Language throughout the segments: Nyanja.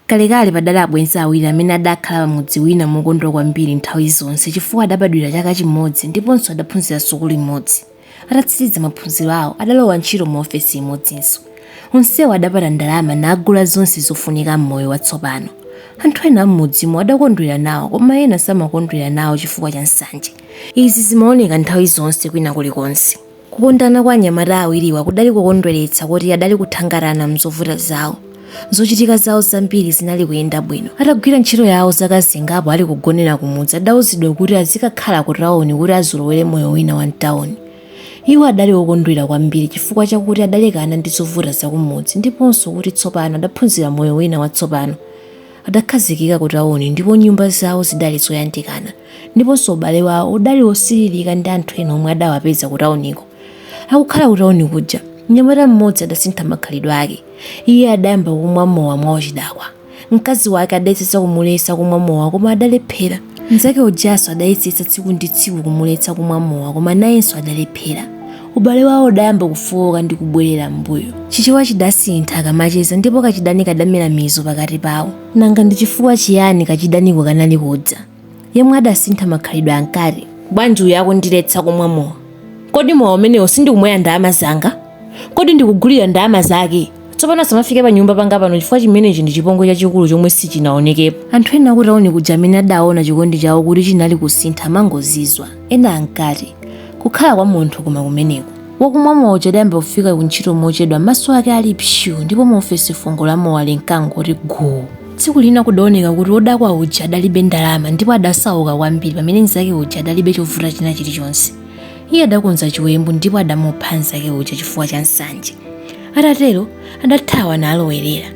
Kalekale padali abwenzi awiri amene adakhala pamudzi wina mokondwa kwambiri nthawi zonse chifukwa adabadwira chaka chimodzi ndiponso adaphunzira sukulu imodzi. Atatsiriza maphunziro awo adalowa ntchito mu ofesi imodzinso. Onsewo adapata ndalama nagula zonse zofunika m'moyo watsopano. Anthu ena a m'mudzimo adakondwera nawo koma ena samakondwera nawo chifukwa cha nsanje. Izi zimaoneka nthawi zonse kwina kulikonse. Kukondana kwa anyamata awiriwa kudali kokondweretsa koti adali kuthangatana m'zovuta zawo. Zochitika zawo zambiri zinali kuyenda bwino. Atagwira ntchito yawo zaka zingapo ali kugonera kumudzi adauzidwa kuti azikakhala kutawoni kuti azolowere moyo wina wa m'tawoni. Iwo adali okondwera kwambiri chifukwa chakuti adalekana ndi zovuta zakumudzi ndiponso kuti tsopano adaphunzira moyo wina watsopano. Adakhazikika kutawoni ndipo nyumba zawo zidali zoyandikana. Ndiponso ubale wawo udali wosiririka ndi anthu ena omwe adawapeza kutauniko. Akukhala kutauni kuja, mnyamata mmodzi adasintha makhalidwe ake. Iye adayamba kumwa mowa mwauchidakwa. Mkazi wake adayesetsa kumuletsa kumwa mowa koma adalephera. Mnzake ujanso adayesetsa tsiku ndi tsiku kumuletsa kumwa mowa koma nayenso adalephera. Ubale wawo udayamba kufooka ndi kubwerera m'mbuyo. Chichewa chidasintha akamacheza ndipo kachidani kadamera mizu pakati pawo. Nanga ndi chifukwa chiyani kachidaniko kanali kudza? Yemwe adasintha makhalidwe ankati, Bwanji uyu akundiletsa kumwa mowa? Kodi mowa umenewo sindikumwera ndalama zanga? Kodi ndikugulira ndalama zake? Tsopano asamafike panyumba panga pano chifukwa chimenechi ndi chipongwe chachikulu chomwe sichinaonekepo. Anthu ena akutauni kuja amene adaona chikondi chawo kuti chinali kusintha amangozizwa. Ena ankati, Kukhala kwa munthu koma kumeneko. Wakumwa mowa uja adayamba kufika kuntchito mochedwa m'maso ake ali psuu ndipo mu ofesi fungo la mowa linkangoti guu. Tsiku lina kudaoneka kuti wodakwa uja adalibe ndalama ndipo adasauka kwambiri pamene mnzake uja adalibe chovuta china chilichonse. Iye adakonza chiwembu ndipo adamupha mnzake uja chifukwa cha nsanje. Atatero, adathawa nalowerera.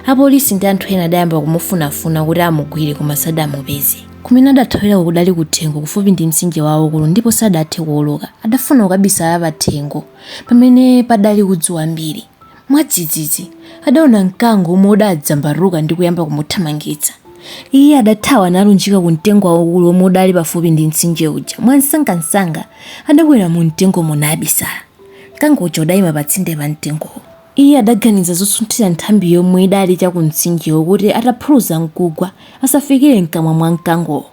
Apolisi ndi anthu ena adayamba kumufunafuna kuti amugwire koma sadamupeze. Kumene adathawira kudali kuthengo kufupi ndi mtsinje waukulu ndipo sadathe kuwoloka. Adafuna kukabisala pathengo pamene padali udzu wambiri. Mwadzidzidzi, adaona mkango womwe udadzambaruka ndi kuyamba kumuthamangitsa. Iye adathawa nalunjika ku mtengo waukulu womwe udali pafupi ndi mtsinje uja. Mwamsangamsanga, adakwera mumtengomo nabisala. Mkango uja udaima patsinde pa mtengowo. Iye adaganiza zotsunthira nthambi yomwe idali cha kumtsinjewo kuti ataphuluza n'kugwa, asafikire m'kamwa mwa mkangowo.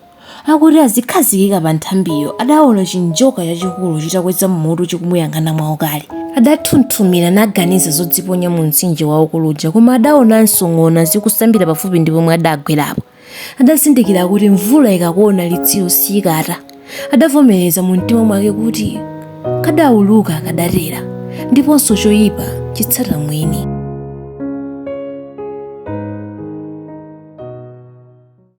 Akuti azikhazikika pa nthambiyo, adaona chinjoka chachikulu chitakweza mutu chikumuyang'ana mwaukali. Adathunthumira naganiza zodziponya mumtsinje waukulu uja koma adaonanso ng'ona zikusambira pafupi ndi pomwe adagwerapo. adazindikira kuti mvula ikakuona litsiro siyikata adavomereza mu mtima mwake kuti kadauluka kadatera ndiponso choyipa chitsata mwini